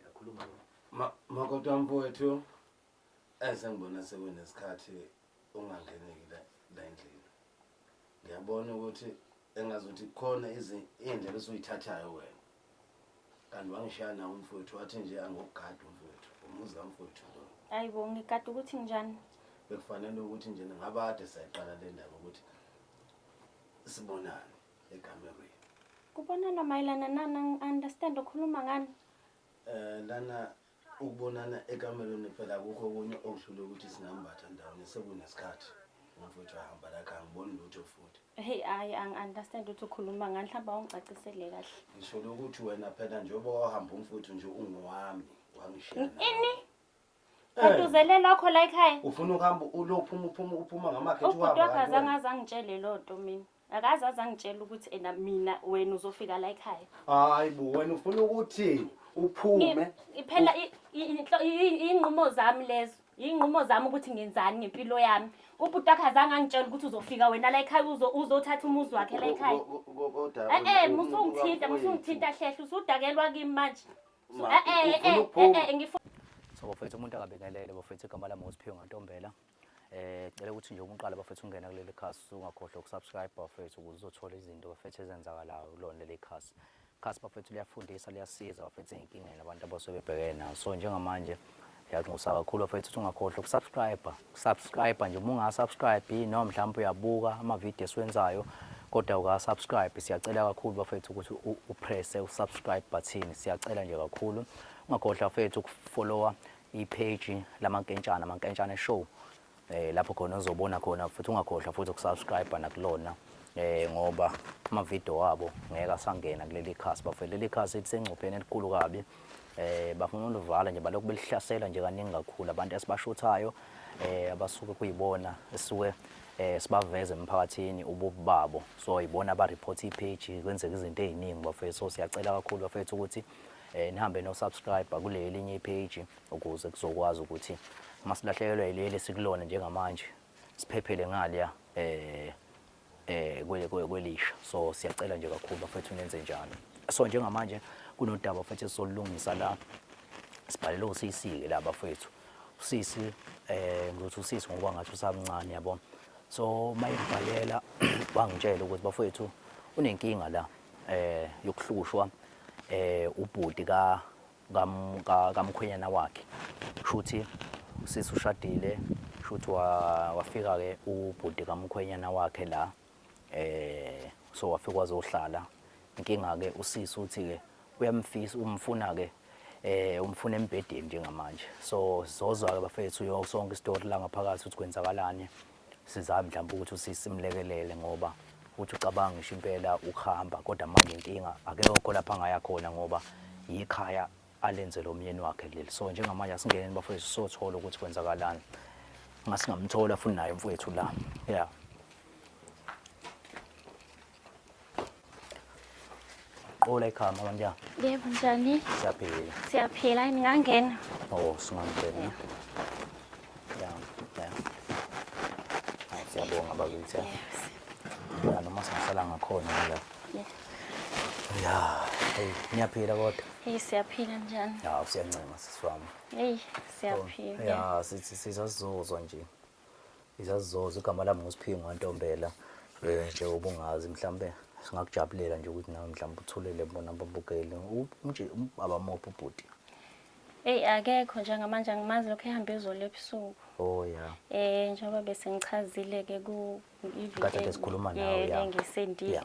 Yakhuluma ma makoti wami mfowethu eze ngibona sekunesikhathi ungangeneki la la endlini. Ngiyabona ukuthi engazuthi khona izi- iy'ndlela esuyithathayo wena. Kanti wangishaya nawo umfowethu wathi nje angokugada umfowethu. Umuzi kamfowethu lo. Hayi bo ngigada ukuthi njani? bekufanele ukuthi nje ngabade sayiqala le ndaba ukuthi sibonane ekamerweni kubonana mayelana nani angi-understand ukhuluma ngani um lana ukubonana ekamerweni phela kukho okunye okuhlule ukuthi singambatha ndawonye sekunesikhathi umfowethu ahamba lakhe angiboni lutho futhi heyi hhayi angi-understand ukuthi ukhuluma ngani mhlawumbe awungicacisele kahle ngisho lokuthi wena phela njengoba wahamba umfowethu nje ungowami wangishiya nawe. ini Eh, kanti uzele lokho la ekhaya ufuna ukuhamba ulophuma uphuma uphuma ngamakhethi ubhuti uhamba wakhe kanti wena. azange aze angitshele loo nto mina akaze aze angitshela ukuthi ena mina wena uzofika la ekhaya hayi bo wena ufuna ukuthi uphume iphela iy'nqumo zami lezo iy'nqumo zami ukuthi ngenzani ngempilo yami ubhuti wakhe azange angitshela ukuthi uzofika wena la ekhaya uzothatha umuzi wakhe la ekhaya e-e musungithinta musungithinta hlehla usudakelwa kimi manje e-e e-e ngifuna so bafethu umuntu akabekelele bafethu igama lami ngosiphiwe ngantombela Eh cela ukuthi nje umqala bafethu ungena kuleli khasi ungakhohlwa ukusubscribe bafethu ukuze uzothola izinto bafethu ezenzakalayo kulona leli khasi. Khasi bafethu liyafundisa liyasiza bafethu ezinkingeni abantu abasuke bebhekene nazo. So njengamanje ngiyaxosa kakhulu bafethu ukuthi ungakhohlwa ukusubscribe. Subscribe nje uma ungasubscribe noma mhlawumbe uyabuka ama video esiwenzayo kodwa ukasubscribe siyacela kakhulu bafethu ukuthi upresse usubscribe button siyacela nje kakhulu. Ungakhohlwa bafethu ukufollowa ipage lamankentshana mankentshane show eh lapho khona uzobona khona futhi ungakhohlwa futhi ukusubscribe nakulona eh ngoba ama video wabo ngeke asangena kuleli khasi bafethu leli khasi lisengcupheni elikhulu kabi eh bafuna ulivala nje balokhu belihlasela nje kaningi kakhulu abantu esibashuthayo eh abasuke kuyibona esuke eh sibaveze emphakathini ububi babo so yibona aba report ipage kwenzeka izinto eziningi bafethu so siyacela kakhulu bafethu ukuthi eh, nihambe no subscribe kule elinye ipage ukuze kuzokwazi ukuthi masilahlekelwa ileli sikulona njengamanje siphephele ngaliya eh eh kwelisha so siyacela nje kakhulu bafethu nenze njalo so njengamanje kunodaba futhi solungisa la sibhalele uCC ke la bafethu uCC eh ngizothi uCC ngoba ngathi usamncane yabo so mayibhalela bangitshela ukuthi bafethu unenkinga la eh yokuhlushwa eh ubhuti ka kamkhwenyana wakhe shuthi usisi ushadile shuthi wafika ke ubhuti kamkhwenyana wakhe la eh so wafika wazohlala inkinga ke usisi uthi ke uyamfisa umfuna ke eh umfuna embhedeni njengamanje so sizozwa ke bafethu yonke sonke istory la ngaphakathi ukuthi kwenzakalani Sizame mhlawumbe ukuthi usisi mlekelele ngoba uthi ucabanga ngisho impela ukuhamba kodwa manje inkinga akekho lapha angaya khona ngoba yikhaya alenzele umyeni wakhe leli so njengamanje asingeneni bafowethu sothola ukuthi kwenzakalani ngasingamthola futhi naye mfowethu la yeah Qula ekhama kanjani? Yebo njani? Siyaphila. Siyaphila ningangena. Oh, singangena. Yeah. Yeah. yeah. Hayi siyabonga bakithi. Yes. Yeah, noma singasala ngakhona la. Yeah. Yeah. Hey, ngiyaphila kodwa. Hey, siyaphila njani? Yeah, usiyancema siswami. Hey, siyaphila. Yeah, sithi sizozwa nje. izazizoza igama lami nguSiphingo kaNtombela um nje ubungazi mhlawumbe singakujabulela nje ukuthi nawe mhlawumbe uthulele bona babukele nje abamophi ubhuti eyi akekho njengamanje angimazi lokhu ehambe ezolo ebusuku o oh, ya um njengoba bese ngichazile-ke kuiviesikhuluma nawengisendile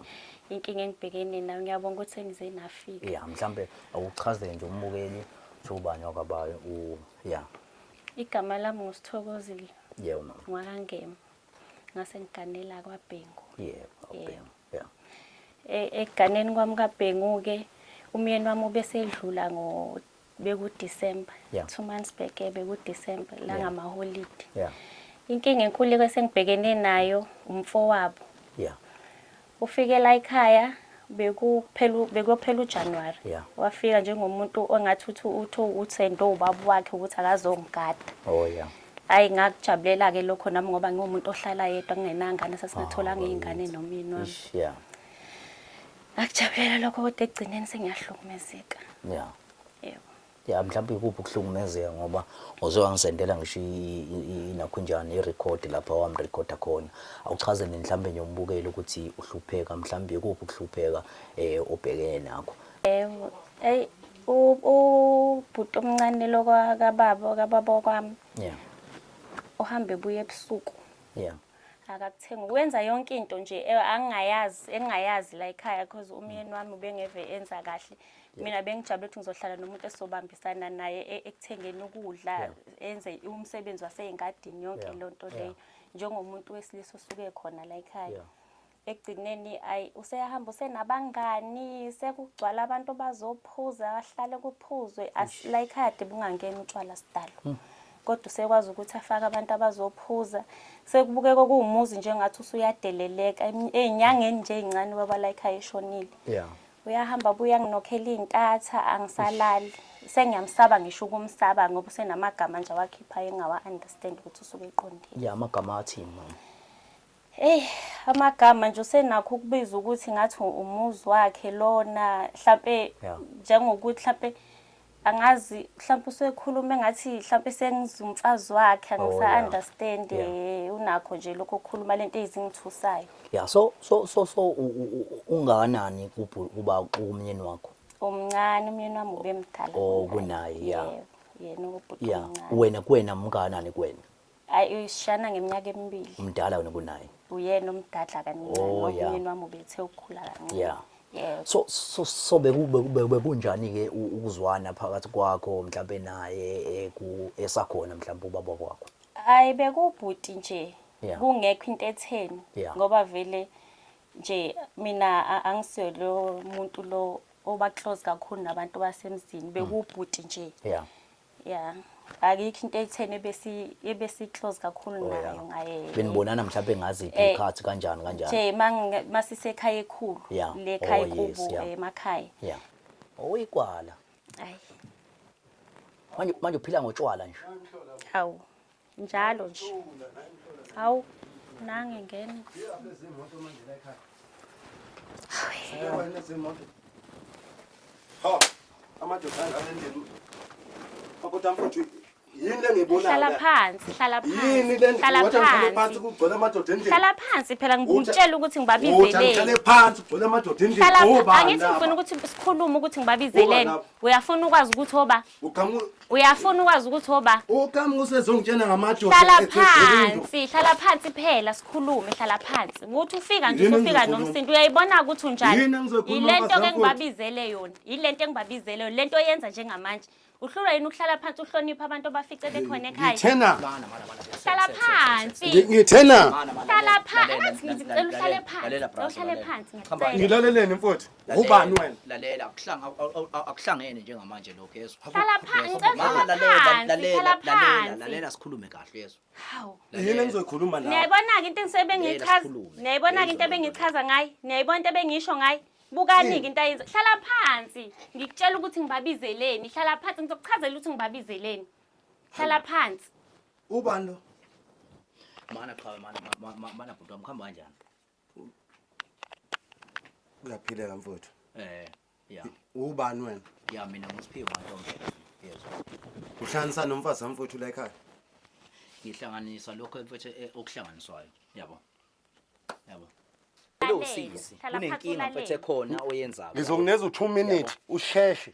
inkinga engibhekene nayo ngiyabonga ukuthi sengize nafika ya mhlawumbe awuchazele nje umbukeli ukuthi ubani wakabayo ya Igama lami nguSithokozile. Yebo mama. Ngwakangema. Ngase ngiganela kwaBhengu. Yebo, kwaBhengu. Yeah. E, Eganeni kwami kaBhengu ke umyeni wami ubesedlula ngo beku December. Yeah. Two months back beku December la ngama holiday. Yeah. Inkinga enkulu kwesengibhekene nayo umfowabo. Yeah. Ufike la ekhaya bekuphela bekuyophela uJanuary. Yeah. Wafika njengomuntu ongathi uthi utho uthendo ubaba wakhe ukuthi akazongigada. Oh yeah. Hayi ngakujabulela ke lokho nami ngoba ngiwumuntu ohlala yedwa kungenangane sasingatholanga izingane nomini wami. Ish, yeah. Ngakujabulela lokho kodwa ekugcineni sengiyahlukumezeka. Yeah. Yebo. ya mhlawumbe ikuphi ukuhlukumezeka ngoba uze wangisendela ngisho inakhunjana i-record lapha wamrecorda khona awuchaze nini mhlawumbe nje umbukeli ukuthi uhlupheka mhlawumbe ikuphi ukuhlupheka um obhekene nakho um eyi ubhuti omncane lo kababa kababa wakwami yeah uhamba ebuya ebusuku yeah akakuthenga wenza yonke into nje eh, angingayazi engingayazi la ekhaya because umyeni wami ubengeve enza kahle mina bengijabule ukuthi ngizohlala nomuntu esobambisana naye e-, ekuthengeni ukudla enze umsebenzi wasey'ngadini yonke loo nto leyo njengomuntu wesilisa osuke khona la ekhaya ekugcineni ayi useyahamba usenabangani sekugcwala abantu bazophuza bahlale kuphuzwe la ekhaya de bungangeni utshwala sidalo hmm. kodwa usekwazi ukuthi afake abantu abazophuza sekubukeka okuwumuzi njengathi usuyadeleleka ey'nyangeni nje ey'ncane ubaba la ekhaya eshonile uyahamba abuye anginokhela iy'ntatha angisalali sengiyamsaba ngisho ukumsaba ngoba usenamagama nje awakhiphayo engawa-understand ukuthi usuke eqondile ya amagama athini mama Ey amagama nje usenakho ukubiza ukuthi ngathi umuzi wakhe lona mhlambe njengokuthi mhlambe angazi mhlawumbe usekhuluma engathi mhlawumbe sengizumfazi wakhe angisa-understand oh, yeah. Eh, unakho nje lokho kukhuluma lento ezingithusayo ya so so so so ungakanani kuba umyeni wakho omncane umyeni wami ube mdala oh kunaye ya yena ubhuti omncane wena kuwena mngakanani kuwena Hayi uyishana ngeminyaka emibili. Umdala wena kunaye. Uyena omdadla kancane oh, ngoba umyeni wami ubethe ukukhula kancane. Yeah. Yeah. So so so bekunjani ke ukuzwana phakathi kwakho mhlawumbe naye eh, ku esakhona mhlawumbe ubaba wakho? Hayi bekubhuti nje. Yeah. Kungekho into etheni yeah. ngoba vele nje mina angisiyo lo muntu lo oba close kakhulu nabantu basemzini bekubhuti nje. Yeah. Yeah. Akikho into etheni ebesi ebesi close kakhulu oh, nayo ngaye. Benibonana mhlawumbe ngazi eh, ikhathi kanjani kanjani. Nje mangi masisekhaya ekhulu le khaya oh, kubo emakhaya. Yeah. Oyikwala. Ayi. Manje manje uphila ngotshwala nje. Hawu. njalo nje hawu nange ngena hlala phansi hlala phansihlala phansi phela ngikutshela ukuthi ngibabizelenihlala phansi angithi ngifuna ukuthi sikhulume ukuthi ngibabizeleni uyafuna ukwazi ukuthi oba Uqhamuka Uyafuna ukwazi ukuthi oba uqhamuka usezongitshena ngamadoda. hlala ethe ukulunga. phansi, hlala phansi phela sikhulume, hlala phansi. Ukuthi ufika nje Yini usufika engizokhuluma? nomsindo uyayibona ukuthi Yini unjani. engizokhuluma Yile nto ke bazakwethu? engibabizele yona. Yile nto engibabizele yona, le nto oyenza njengamanje. Uhlulwa yini ukuhlala phansi uhloniphe abantu abafice bekhona ekhaya? Ngithena. Mana, mana, mana. Hlala Ngi- phansi. Ngithena. Mana, mana, Hlala lalela, phansi. lalela, Ngathi lalela, ngicela uhlale lalela, phansi. lalela, Ngicela brazo, uhlale lalela. phansi. Hamba, Ngicela. Ngilaleleni mfowethu. Ubani wena? lalela akuhlanga awu- awu- awu- akuhlangene njengamanje lokho yezwa Hlala pha- Yezwa? ngicela Mama, uhlale lalela, phansi, lalela, hlala lalela, phansi. lalela sikhulume kahle yezwa Hawu. Yini engizoyikhuluma la? niyayibona-ke into Ngeke engisebengiyichaza sikhulume. niyayibona-ke Ngeke into ebengichaza ngayo niyayibona into ebengisho ngayo bukani-ke into ayenza hlala phansi ngikutshela ukuthi ngibabizeleni hlala phansi ngizokuchazela ukuthi ngibabizeleni hlala phansi Ubani lo? mana qhawe mana ma- ma- ma- mana bhuti wami kuhamba kanjani Uyaphileka mfowethu. Eh, ya. Ubani wena? Ya mina ngisiphiwe mantombe. Yezwa. Uhlanganisa nomfazi wami mfowethu la ekhaya. Ngihlanganisa lokho mfowethu eh, okuhlanganiswayo. Yabo. Yabo. Lo Lalele, sisi thala phansi kunenkinga mfowethu ulalele. ekhona oyenzayo. Ngizongineza u2 minute usheshe.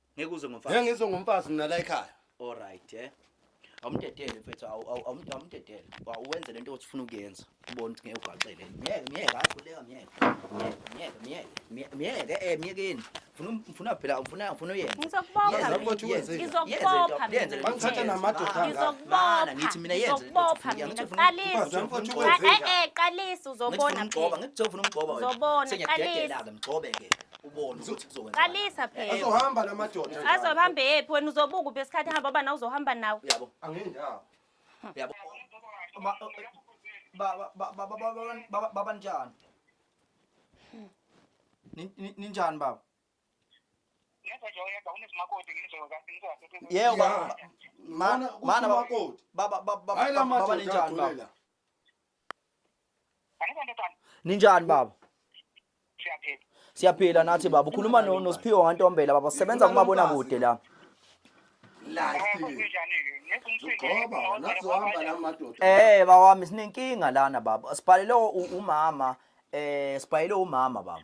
ngeke uze ngomfazi ngeke ngizwe ngomfazi mina la ekhaya all right eh awumdedele mfethu awumdedele uwenze lento othi ufuna ukuyenza ubona ukuthi ngeke ugaqele myeke myeke akhuleka myeke myeke myeke myeke eh myekeni ngifuna phela ngifuna ngifuna uyenze ngizokubopha ngithatha namadoda ngizokubopha ngithi mina yenze qalisa eh eh qalisa uzobona ngigcoba ngikuzofuna umgcoba wena uzobona qalisa ngigcobe ke ubone ukuthi kuzokwenza qalisa phela azohamba namadoda azohamba yephi wena uzobuka uphi esikhathi hamba bana uzohamba nawe yabo angendawo yabo baba njani ninjani baba yeo mana baba ninjani baba ninjani baba siyaphila nathi baba ukhuluma no- nosiphiwo ngantombela baba sisebenza kumabonakude la Ngoba nazohamba la madoda. eh baba wami sinenkinga lana baba sibhalele u- umama eh sibhalele umama baba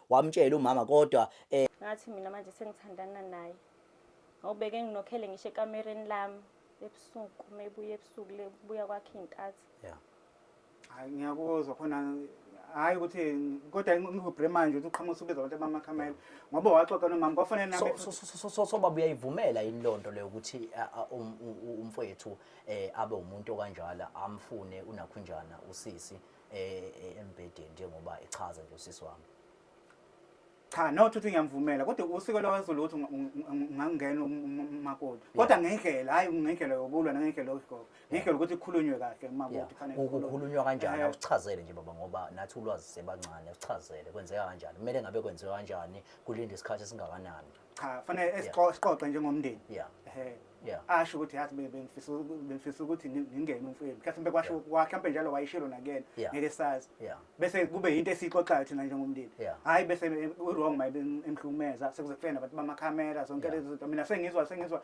wamtshela umama kodwa eh, ngathi mina manje sengithandana naye ngawubeke nginokhele ngisho ekamereni lami ebusuku uma ebuya ebusuku le kubuya kwakhe iy'nkathi yeah. Hayi ngiyakuzwa khona hayi ukuthi kodwa ngihubhre manje ukuthi uqhamuka usubiza abantu abamakhamela ngoba waxoxa nomama kwafanele nami So- so- so- so- so- so baba uyayivumela yini loo nto leyo ukuthi a- a- um- u- u- umfowethu um abe umuntu okanjalo amfune unakhunjana usisi e- e- embhedeni njengoba echaza nje usisi wami cha not ukuthi ngiyamvumela kodwa usiko lwakwaZulu ukuthi unga- unga- unga- ungangena um- um- um- umakoti kodwa ngendlela hhayi ngendlela yokulwa nangendlela yokugoba ngendlela ukuthi kukhulunywe kahle Yeah. umakoti kufanele Ku- kukhulunywe. kukhulunywa kanjani Eh, akuchazele nje baba ngoba nathi ulwazi sebancane akuchazele kwenzeka kanjani kumele ngabe kwenziwa kanjani kulinda isikhathi esingakanani cha fanele esiqoqe njengomndeni yeah yeah asho ukuthi yathi bengifisa bengifisa ukuthi ngingene umfweni mhlawumbe kwasho kwakhe njalo wayishilo nakena ngeke sazi bese kube into esixoxayo thina njengomndeni hayi bese u-wrong mayibe emhlumeza sekuze kufena abantu bamakhamera zonke lezi zinto mina sengizwa sengizwa